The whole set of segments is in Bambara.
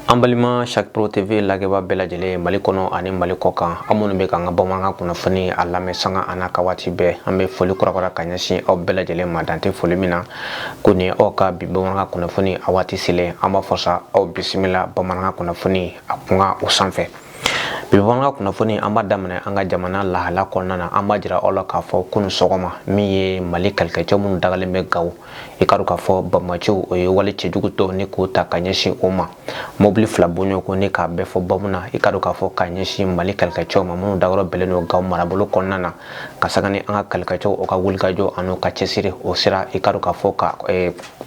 an balima chaque pro tv lagɛbaa bɛɛ lajɛlen mali kɔnɔ ani mali kɔkan aw minnu bɛ k'an ka bamanankan kunnafoni a lamɛn sanga an'a ka waati bɛɛ an bɛ foli kurakura ka ɲɛsin aw bɛɛ lajɛlen ma dan tɛ foli min na kɔni aw ka bi bamanankan kunnafoni a waati selen an b'a fɔ sa aw bisimila bamanankan kunnafoni a kunkan o sanfɛ bi bamanankan kunnafoni an b'a daminɛ an ka jamana lahala kɔnɔna na an b'a jira aw la k'a fɔ kunu sɔgɔma min ye mali kɛlɛkɛcɛ minnu dagalen bɛ gawo i k'a dɔn k'a fɔ banbaanciw o ye wale cɛjugu dɔ nin k'o ta ka ɲɛsin o ma mɔbili fila bɔ ɲɔgɔn kɔ nin k'a bɛɛ fa bɔmu na i k'a dɔn k'a fɔ ka ɲɛsin mali kɛlɛkɛcɛw ma minnu dagayɔrɔ bɛɛlen don gawo marabolo kɔnɔna na ka saga ni an ka kɛlɛkɛcɛw o ka wulikajɔ an'u ka cɛsiri o sera i k'a dɔn k'a fɔ ka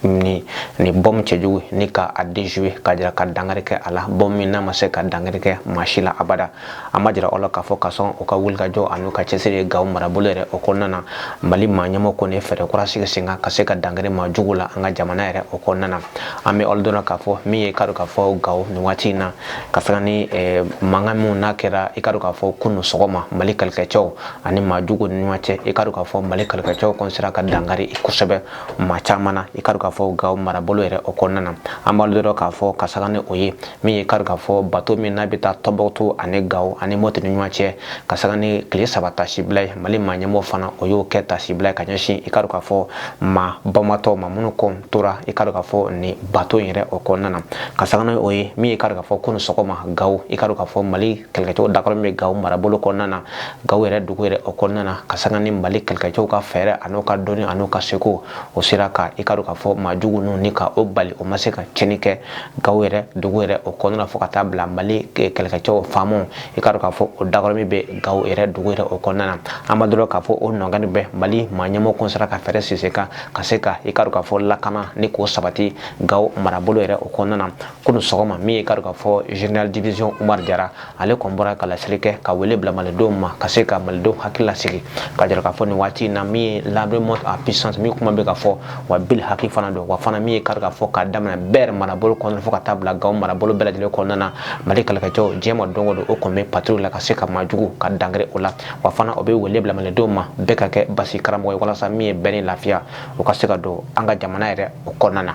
nin bɔmu cɛjugu nin ka a déjouer ka jira ka dangari kɛ a la bɔmu nin a ma se ka dangari kɛ maa si la abada an b'a jira aw la k'a fɔ ka sɔn u ka wulikajɔ an'u ka cɛsiri ye gawo marabolo yɛrɛ o kɔnɔna na mali maa ɲɛmɔgɔ kɔni ye fɛɛrɛ kura sigi sen kan ka se ka dangari maa jugu la an ka jamana yɛrɛ o kɔnɔna na an bɛ aw ladɔnniya k'a fɔ min ye i k'a dɔn k'a fɔ gawo nin waati in na ka saga ni eh, mankan minnu n'a kɛra i k'a dɔn k'a fɔ kunu sɔgɔma mali kɛlɛkɛcɛw ani maa jugu ni ɲɔgɔn cɛ i k'a dɔn k'a fɔ mali kɛlɛkɛcɛw kɔni sera ka dangari kosɛbɛ maa caman na i k'a dɔn k'a fɔ gawo marabolo yɛrɛ o kɔnɔna na an b'aw ladɔnniya k'a fɔ ka saga ni o ye min ye i k'a dɔn k'a fɔ bato min n'a bɛ taa tɔnbuktu ani gawo ani mɔti ni ɲɔgɔn cɛ ka saga ni tile saba taasibila ye mali maa ɲɛmɔgɔ fana o y'o kɛ taasibila ye ka ɲɛsin i k'a dɔn k'a fɔ maa banbaatɔ ma minnu kɔni tora i k'a dɔn k'a fɔ ni bato in yɛrɛ o kɔnɔna na ka saga ni o ye min ye i k'a dɔn k'a fɔ kunu sɔgɔma gawo i k'a dɔn k'a fɔ mali kɛlɛkɛcɛw dagayɔrɔ bɛ gawo marabolo kɔnɔna na gawo yɛrɛ dugu yɛrɛ o kɔnɔna na ka saga ni mali kɛlɛkɛcɛw ka fɛɛrɛ an'o ka dɔnni an'o ka seko o sera ka i k'a dɔn k'a fɔ maa jugu ninnu ni ka o bali o ma se ka cɛnni kɛ gawo yɛrɛ dugu yɛrɛ o kɔnɔna fo ka taa bila mali kɛlɛkɛcɛw faamaw i k'a dɔn k'a fɔ o dagayɔrɔ min bɛ gawo yɛrɛ dugu yɛrɛ o kɔnɔna na an b'aw ladɔnniya k'a fɔ o nɔgɔni bɛ mali maa ɲɛmɔgɔ kɔni sera ka fɛɛrɛ sigi sen kan ka se ka i k'a dɔn k'a fɔ lakana ni k'o sabati gawo marabolo yɛrɛ o kɔnɔna na kunu sɔgɔma min ye i k'a dɔn k'a fɔ general division umar jara ale kɔni bɔra ka laseli kɛ ka wele bila malidenw ma ka se ka malidenw hakili lasigi ka jira k'a fɔ nin waati in na min ye l'armée monte en puissance min kuma bɛ ka fɔ wa bilihaki fana don wa fana min ye i k'a dɔn k'a fɔ k'a daminɛ ber marabolo kɔnɔna fo ka taa bila gawo marabolo bɛɛ lajɛlen kɔnɔna na mali kɛlɛkɛcɛw diɲɛ ma don o don o kɔni bɛ patrouille la ka se ka maajugu ka dangari o la wa fana o bɛ wele bila malidenw ma bɛɛ ka kɛ basigi karamɔgɔ ye walasa min ye bɛn ni lafiya o ka se ka don an ka jamana yɛrɛ o kɔnɔna na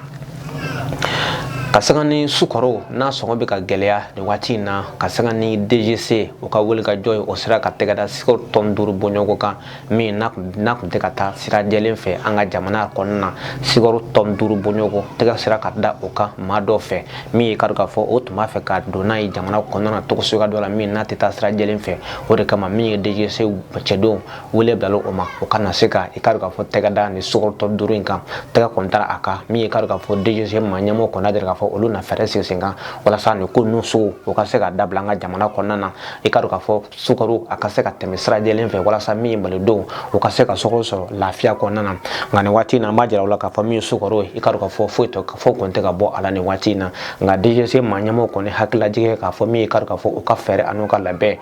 ka sanga ni sukaro n'a sɔngɔ bɛ ka gɛlɛya nin waati in na ka sanga ni dgc o ka wuli ka jɔ o sera ka tɛgɛ da sukaro tɔni duuru bɔɲɔgɔn kan min n'a tun tɛ ka taa sira jɛlen fɛ an ka jamana kɔnɔna na sukaro tɔni duuru bɔɲɔgɔn tɛgɛ sera ka da o kan maa dɔ fɛ min ye i k'a dɔn k'a fɔ o tun b'a fɛ ka don n'a ye jamana kɔnɔna na tɔgɔso ka dɔ la min n'a tɛ taa sira jɛlen fɛ o de kama min ye dgc cɛdenw wele bilala o ma o kana se ka i k'a dɔn k'a fɔ tɛgɛ da nin sukaro tɔni duuru in kan tɛgɛ kɔni dara a kan min ye k'a dɔn k'a fɔ dgc ma ɲɛmɔgɔ kɔnɔ deli k'a fɔ olu na fɛɛrɛ sigi sen kan walasa nin ko ninnu sugu o ka se ka dabila an ka jamana kɔnɔna na i k'a dɔn k'a fɔ sukaro a ka se ka tɛmɛ sira jɛlen fɛ walasa min ye malidenw o ka se ka sukaro sɔrɔ lafiya kɔnɔna na nka nin waati in na an b'a jira aw la k'a fɔ min ye sukaro ye i k'a dɔn k'a fɔ foyi tɛ foyi kɔni tɛ ka bɔ a la nin waati in na nka dgc ma ɲɛmɔgɔ kɔni hakili lajigin k'a fɔ min ye k'a dɔn k'a fɔ u ka fɛɛrɛ an'u ka labɛn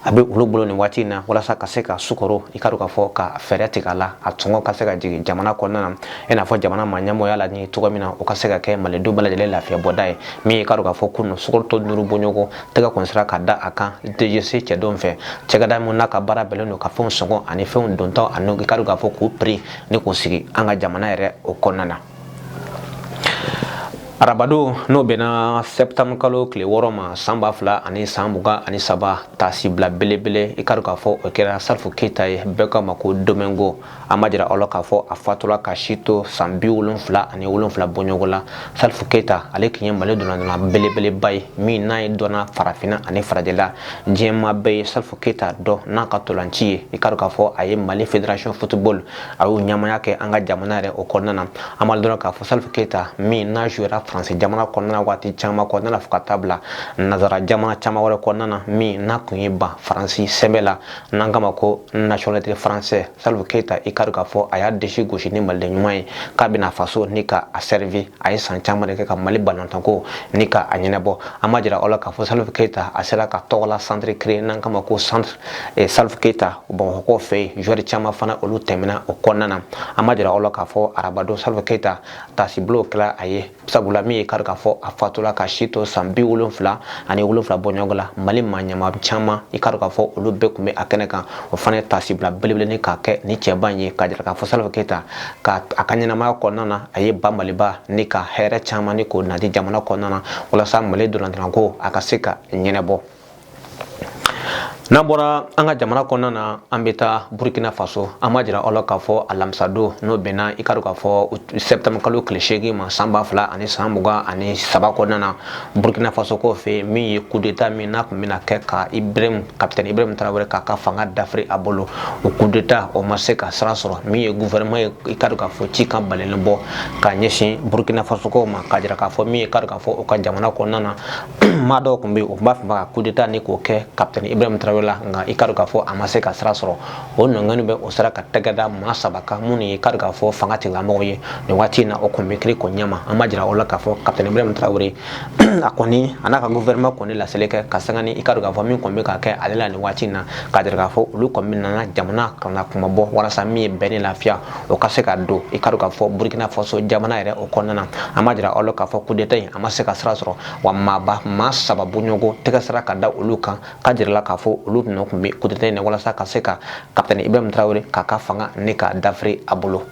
a bɛ olu bolo nin waati in na walasa ka se ka sukaro i k'a dɔn k'a fɔ ka fɛɛrɛ tigɛ a la a sɔngɔ ka se ka jigin jamana kɔnɔna na i n'a fɔ jamana ma ɲɛmɔgɔ y'a laɲini cogo min na o ka se ka kɛ malidenw bɛɛ lajɛlen lafiya bɔda ye min ye i k'a dɔn k'a fɔ kunun sukoro tɔni duuru bɔɲɔgɔn tɛgɛ kun sera ka da a kan dgc cɛdenw fɛ cakɛda min n'a ka baara bɛnnen don ka fɛnw sɔngɔ ani fɛnw dontɔ ani i k'a dɔn k'a fɔ k'u piri ni k'u sigi an ka jamana yɛrɛ o kɔnɔna na Arabadon n'o bɛnna septembre kalo tile wɔɔrɔ ma san ba fila ani san mugan ani saba taasibila belebele i k'a dɔn k'a fɔ o kɛra salifu keyita ye bɛɛ k'a ma ko domingo an b'a jira aw la k'a fɔ a fatura ka si to san bi wolonfila ani wolonfila bɔɲɔgɔn la salifu keyita ale tun ye mali donna belebeleba ye min n'a ye dɔn farafinna ani farajɛla diɲɛ maa bɛɛ ye salifu keyita dɔn n'a ka ntolaci ye i k'a dɔn k'a fɔ a ye mali fédération football a y'o ɲɛmaaya kɛ an ka jamana yɛrɛ o kɔnɔna na an b'a dɔn k'a fɔ salifu keyita min n'a jouera faransi jamana kɔnɔna na waati caman kɔnɔna na fo ka taa bila nazara jamana caman wɛrɛ kɔnɔna na min n'a tun ye ban faransi sɛbɛn na n'an k'a ma ko nationalité français salifu keyita i k'a dɔn k'a fɔ a y'a disi gosi ni maliden ɲuman ye k'a bɛna faso nin ka a sɛrivi a ye san caman de kɛ ka mali balontanko nin ka a ɲɛnɛbɔ an b'a jira aw la k'a fɔ salifu keyita a sera k'a tɔgɔla centre créer n'an k'a ma ko centre e salif keyita bamakɔkaw fɛ yen joueur caman fana olu tɛmɛna o kɔnɔna na an b'a jira aw la k'a fɔ arabadon salif keyita taasibila kɛra a ye sabula min ye i k'a dɔn k'a fɔ a fatula ka si to san bi wolonfila ani wolonfila bɔɲɔgɔn la mali maa ɲɛmaa caman i k'a dɔn k'a fɔ olu bɛɛ tun bɛ a kɛnɛ kan o fana ye taasibila belebele nin k'a kɛ nin cɛba in ye k'a jira k'a fɔ salif keyita ka a ka ɲɛnamaya kɔnɔna na a ye ba maliba nin ka hɛrɛ caman nin k'o nati jamana kɔnɔna na walasa mali ntolatanko a ka se ka ɲɛnɛbɔ n'an bɔra an ka jamana kɔnɔna na an bɛ taa burkina faso an b'a jira aw la k'a fɔ alamisadon n'o bɛnna i ka dɔn k'a fɔ sɛtanburu kalo tile seegin ma san ba fila ani san mugan ani saba kɔnɔna na burkina faso ko fɛ min ye kudeta min n'a tun bɛna kɛ ka ibrahim kapitɛni ibrahim tarawele k'a ka fanga dafiri a bolo o kudeta o ma se ka sira sɔrɔ min ye gouvernement ye i ka dɔn k'a fɔ cikan balɛnnen bɔ ka ɲɛsin burkina faso ko ma k'a jira k'a fɔ min ye ka dɔn k'a fɔ u ka jamana kɔnɔna na maa dɔw tun bɛ yen u b'a fɛ ka kudeta ni k'o kɛ kapitɛni ibrahim tarawele la nka i ka dɔn k'a fɔ a ma se ka sira sɔrɔ o nɔngɔni bɛɛ u sera ka tɛgɛ da maa saba kan minnu ye i ka dɔn k'a fɔ fanga tigilamɔgɔw ye nin waati in na o kɔni bɛ kiri ko ɲɛma an b'a jira aw la k'a fɔ kapitɛni ibrahim tarawele a kɔni a n'a ka gouvernement kɔni laseli kɛ ka sanga ni i ka dɔn k'a fɔ min kɔni bɛ ka kɛ ale la nin waati in na k'a jira k'a fɔ olu kɔni bɛ nana jamana kana kuma bɔ walasa min ye bɛn ni lafiya o ka se ka don i ka dɔn k'a fɔ burkina faso jamana yɛrɛ o kɔnɔna na an b'a jira aw la k'a fɔ kudeta in a ma se ka sira sɔrɔ wa maaba maa saba bɔɲɔgɔn tɛgɛ sira ka da olu kan k'a jira aw la k'a fɔ olu nɔ tun bɛ kudeta in na walasa ka se ka kapitɛni ibrahim tarawele k'a ka fanga ni k'a dafiri a bolo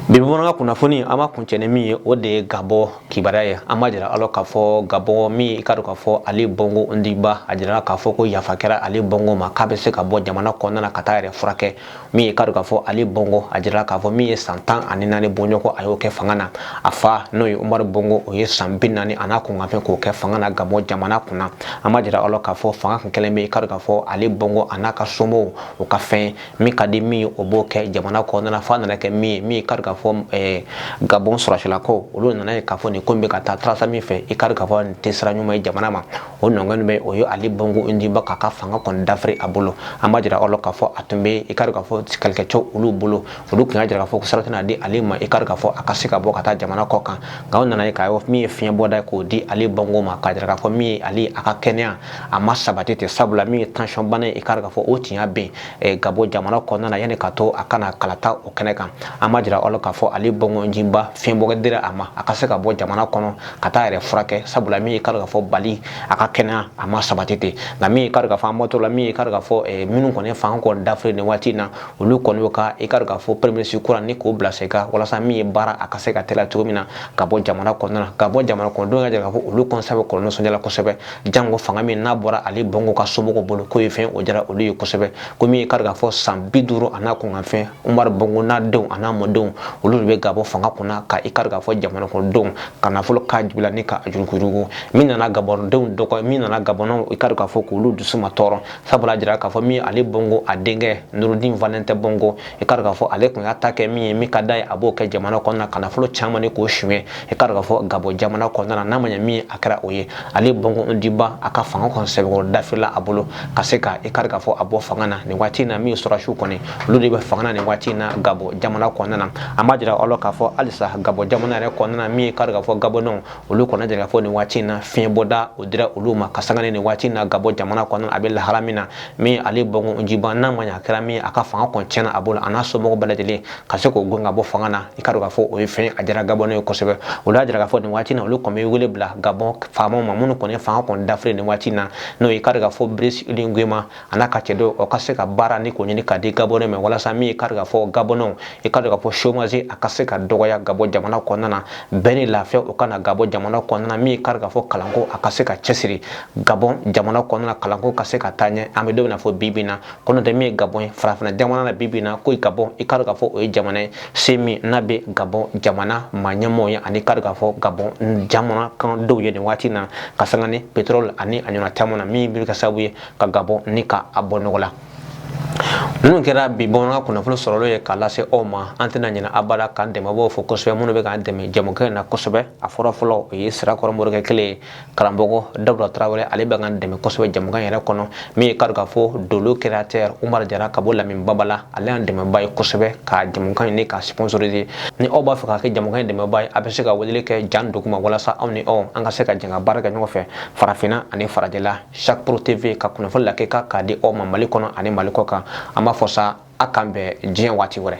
bi bamanankan kunnafoni an b'a kuncɛ ni min ye o de ye gabɔn kibaruya ye an b'a jira aw la k'a fɔ gabɔn min ye i k'a dɔn k'a fɔ ali bongo ondimba a jirala k'a fɔ ko yafa kɛra ali bongo ma k'a bɛ se ka bɔ jamana kɔnɔna na ka taa a yɛrɛ furakɛ min ye k'a dɔn k'a fɔ ali bongo a jirala k'a fɔ min ye san tan ani naani bɔɲɔgɔn a y'o kɛ fanga na a fa n'o ye umaru bongo o ye san bi naani a n'a kunkanfɛn k'o kɛ fanga na gabɔn jamana kunna an b'a jira aw la k'a fɔ fanga kun kɛlen bɛ i k'a dɔn k'a fɔ ali bongo a n'a ka somɔgɔw o ka fɛn min ka di min ye u b'o kɛ jamana kɔnɔna f'a nana kɛ min ye min ye k'a dɔn k'a fɔ eh, gabɔn sɔrɔsilakaw olu nana a ye k'a fɔ nin ko in bɛ ka taa taasira min fɛ i k'a dɔn k'a fɔ nin tɛ sira ɲuman ye jamana ma o nɔngɔn bɛɛ u ye ali bongo ondimba k'a ka fanga kɔni dafiri a bolo an b'a jira aw la k'a fɔ a tun bɛ i k'a dɔn k'a fɔ kɛlɛkɛcɛw olu bolo olu tun y'a jira k'a fɔ ko sira tɛna di ale ma i k'a dɔn k'a fɔ a ka se ka bɔ ka taa jamana kɔ kan nka u nana a ye k'a min ye fiɲɛbɔda ye k'o di ali bongo ma k'a jira k'a fɔ min ye ale a ka kɛnɛya a ma sabati ten sabula min ye tansiyɔn bana ye i k'a dɔn k'a fɔ o tiɲɛ bɛ yen gabɔn jamana kɔnɔna na yanni ka to a ka na kalata o kɛnɛ kan an b'a jira aw la k'a fɔ ali bongo ondimba fiɲɛbɔda dira a ma a ka se ka bɔ jamana kɔnɔ ka taa a yɛrɛ furakɛ sabula min ye k'a dɔn k'a fɔ ali a ka kɛnɛya a ma sabati ten nka min ye k'a dɔn k'a fɔ an bɔtɔ la min ye k'a dɔn k'a fɔ eh, minnu kɔni fanga kɔni dafiri nin waati in na olu kɔni y'o ka i k'a dɔn k'a fɔ premier ministre kura ni k'o bila sen kan walasa min ye baara a ka se ka teliya cogo min na gabɔn jamana kɔnɔna na gabɔn jamana kɔnɔdenw k'a jira k'a fɔ olu kɔnsa bɛ kɔlɔlɔ nisɔndiya la kosɛbɛ jango fanga min n'a bɔra ali bongo ka somɔgɔw bolo k'o ye fɛn o diyara olu ye kosɛbɛ ko min ye k'a dɔn k'a fɔ san bi duuru a n'a kunkanfɛn umar bongo n'a denw a n'a mɔdenw olu de bɛ gabɔn fanga kunna ka i k'a dɔn k'a fɔ jamana kɔnɔdenw ka nafolo k'a jugula ni k'a yuruguyurugu min nana gabɔndenw dɔgɔ min nana gabɔnnaw i k'a dɔn k'a fɔ k'olu dusu matɔɔrɔ sabula a jira k'a fɔ min ye ali bongo a denkɛ nurudin valentin bongo i ka k'a fɔ ale tun y'a ta kɛ min ye min ka d'a ye a b'o kɛ jamana kɔnɔna ka nafolo caman ni k'o suɲɛ i ka k'a fɔ gabɔn jamana kɔnɔna na n'a ma ɲɛ min ye a kɛra o ye ali bongo ondimba a ka fanga kɔni sɛbɛkɔrɔ dafirila a bolo ka se ka i ka k'a fɔ a bɔ fanga na nin waati in na min ye sɔrɔsiw kɔni olu de bɛ fanga na nin waati in na gabɔn jamana kɔnɔna na an b'a jira aw la k'a fɔ halisa gabɔn jamana yɛrɛ kɔnɔna na min ye ka k'a fɔ gabɔnɛw olu kɔni jira k'a fɔ nin waati in na fiɲɛbɔda o dira olu ma ka sanga ni nin waati in na gabɔn jamana kɔnɔ a bɛ lahala min na min ali bongo ondimba n'a ma ɲa a kɛra min a ka fanga kɔni tiɲɛna a bolo a n'a somɔgɔw bɛɛ lajɛlen ka se k'o gɛn ka bɔ fanga na i ka dɔn k'a fɔ o ye fɛn a diyara gabɔnɛw ye kosɛbɛ olu y'a jira k'a fɔ nin waati in na olu kɔni bɛ wele bila gabɔn faamaw ma minnu kɔni ye fanga kɔni dafiri nin waati in na n'o ye i ka dɔn k'a fɔ brice oligui nguema a n'a ka cɛ dɔw o ka se ka baara ni k'o ɲini k'a di gabɔnɛw ma walasa min ye kari k'a fɔ gabɔnɛw i ka dɔn k'a fɔ chômage a ka se ka dɔgɔya gabɔn jamana kɔnɔna na bɛn ni lafiya o ka na gabɔn jamana kɔnɔna na min ye kari k'a fɔ kalanko a ka se ka cɛsiri gabɔn jamana kɔnɔna na kalanko ka se ka taa ɲɛ an bɛ don min na fɔ bi bi in na ko n'o tɛ min ye gabɔn ye farafinna jamana na bi bi in na ko gabɔn i ka dɔn k'a fɔ o ye jamana ye se min n'a bɛ gabɔn jamana maa ɲɛmɔgɔw ye ani kari k'a fɔ gabɔn jamana kan dɔw ye nin waati in na ka sanga ni pétrole ani a ɲɔgɔnna caman na min bɛ kɛ sababu ye ka gabɔn ni ka a bɔ nɔgɔ la ninnu kɛra bi bamanankan kunnafoni sɔrɔlen ye k'a lase aw ma an tɛna ɲinɛ abada k'an dɛmɛbaaw fo kosɛbɛ minnu bɛ k'an dɛmɛ jɛmukan in na kosɛbɛ a fɔlɔ fɔlɔ o ye sirakɔrɔ morikɛ kelen ye karamɔgɔ dawuda tarawele ale bɛ k'an dɛmɛ kosɛbɛ jɛmukan yɛrɛ kɔnɔ min ye kari k'a fɔ dolo créateur umar jara ka bɔ lamini babala ale y'an dɛmɛbaa ye kosɛbɛ ka jɛmukan in ni k'a sponsoriser ni aw b'a fɛ ka kɛ jɛmukan in dɛmɛbaa ye aw bɛ se ka weleli kɛ yan duguma walasa aw ni aw an ka se ka jɛn ka baara kɛ ɲɔgɔn fɛ farafinna ani farajɛla chaque pro tv ka kunnafoni lakika k'a di aw ma mali kɔnɔ ani mali kɔ kan an b'a fɔ sa a k'an bɛn diɲɛ waati wɛrɛ